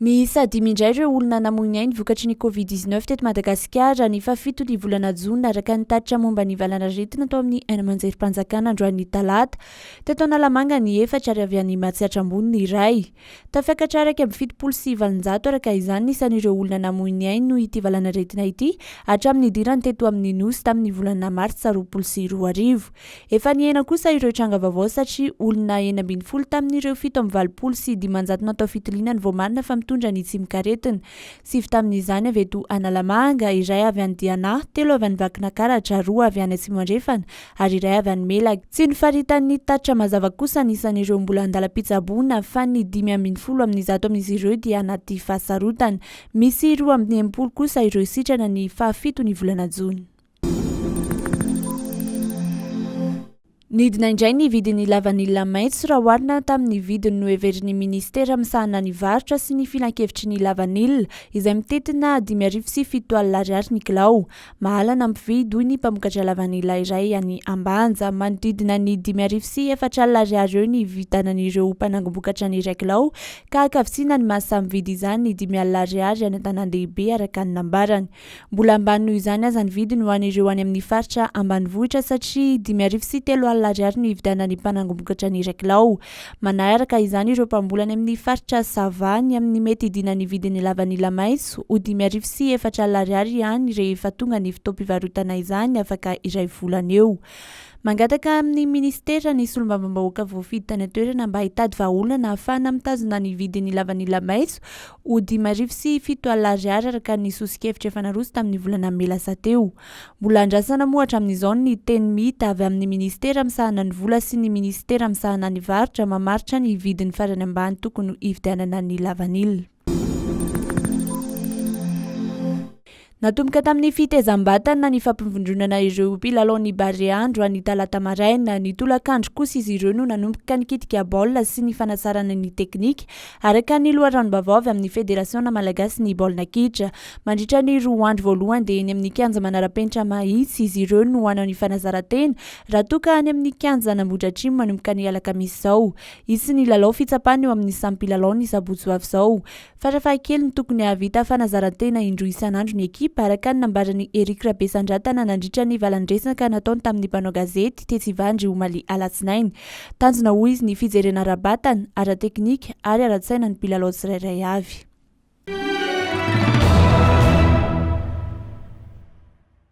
Miisa dimy indray ireo olona namoy ny ainy vokatry ny Covid 19 teto Madagasikara ny fahafito ny volana jona araka ny tatitra momba ny valanaretina tao amin'ny aina amanjerim-panjakana androan'ny talata. Teto Analamanga ny efatra ary avy any Matsiatra Ambony ny iray. Tafiakatra iraika amby fitopolo sy valonjato araka izany ny isan'ireo olona namoy ny ainy noho ity valanaretina ity hatramin'ny nidirany teto amin'ny Nosy tamin'ny volana martsa roapolo sy roa arivo. Efa nihena kosa ireo tranga vaovao satria olona enina ambin'ny folo tamin'ireo fito amby valopolo sy dimanjato natao fitiliana no voamarina fa mitondra ny tsimok'aretina, sivy tamin'izany avy eto Analamanga, iray avy any Diana, telo avy any Vakinakaratra, roa avy any Atsimo Andrefana ary iray avy any Melaky. Tsy nifaritan'ny tatitra mazava kosa ny isan'ireo mbola an-dalam-pitsaboana fa ny dimy ambin'ny folo amin'ny zato amin'izy ireo dia anaty fahasarotana. Misy roa amby enimpolo kosa ireo sitrana ny fahafito ny volana jona. Nidina indray ny vidin'ny lavanila maitso raha oharina tamin'ny vidiny noheverin'ny minisitera misahana ny varotra sy ny filankevitry ny lavanila izay mitentina dimy arivo sy fito alina ariary ny kilao. Mahalana mpividy, hoy ny mpamokatra lavanila iray any Ambanja. Manodidina ny dimy arivo sy efatra alina ariary eo ny hividanan'ireo mpanangom-bokatra ny iray kilao, ka hankavisiana ny maha samy mpividy izany ny dimy alina ariary any an-tanàn-dehibe, araka ny nambarany. Mbola ambany noho izany aza ny vidiny ho an'ireo any amin'ny faritra ambanivohitra, satria dimy arivo sy telo alina ariary no hividanan'ny mpanangom-bokatra ny iray kilao. Manaraka izany ireo mpamboly any amin'ny faritra Sava ny amin'ny mety hidinan'ny vidin'ny lavanila maitso ho dimy arivo sy efatra alina ariary ihany rehefa tonga ny fotoam-pivarotana izany afaka iray volana eo. Mangataka amin'ny minisitera ny solombavambahoaka voafidy tany an-toerana mba hitady vahaolana hahafahana mitazona ny vidin'ny lavanila maitso ho dimy arivo sy fito alina ariary araka ny soso-kevitra efa naroso tamin'ny volana mey lasa teo. Mbola andrasana moa hatramin'izao ny teny mita avy amin'ny minisitera misahana ny vola sy ny minisitera misahana ny varotra mamaritra ny vidiny farany ambany tokony hividianana ny lavanila. Natomboka tamin'ny fitezam-batana ny fampivondronana ireo mpilalaon'ny Barea andro any talata maraina. Ny tolakandro kosa izy ireo no nanomboka nikitika baolina sy ny fanasarana ny teknika Araka ny loharanom-baovao avy amin'ny Federasiona malagasin'ny baolina kitra, mandritra ny roa andro voalohany dia eny amin'ny kianja manara-penitra Mahitsy izy ireo no hanao ny fanazaran-tena raha toa ka any amin'ny kianjan' Ambohidratrimo manomboka ny alakamisy izao. Hisy ny lalao fitsapana eo amin'ny samy mpilalao ny sabotsy ho avy izao. Farafahakeliny tokony hahavita fanazaran-tena indroa isan'andro ny ekipa araka ny nambaran'i Eric Rabesandratana nandritra ny valandresaka nataony tamin'ny mpanao gazety tetsy Ivandry omaly alatsinainy Tanjona hoy izy ny fijerena ara-batana, ara-teknika ary ara-tsaina ny mpilalao tsirairay avy.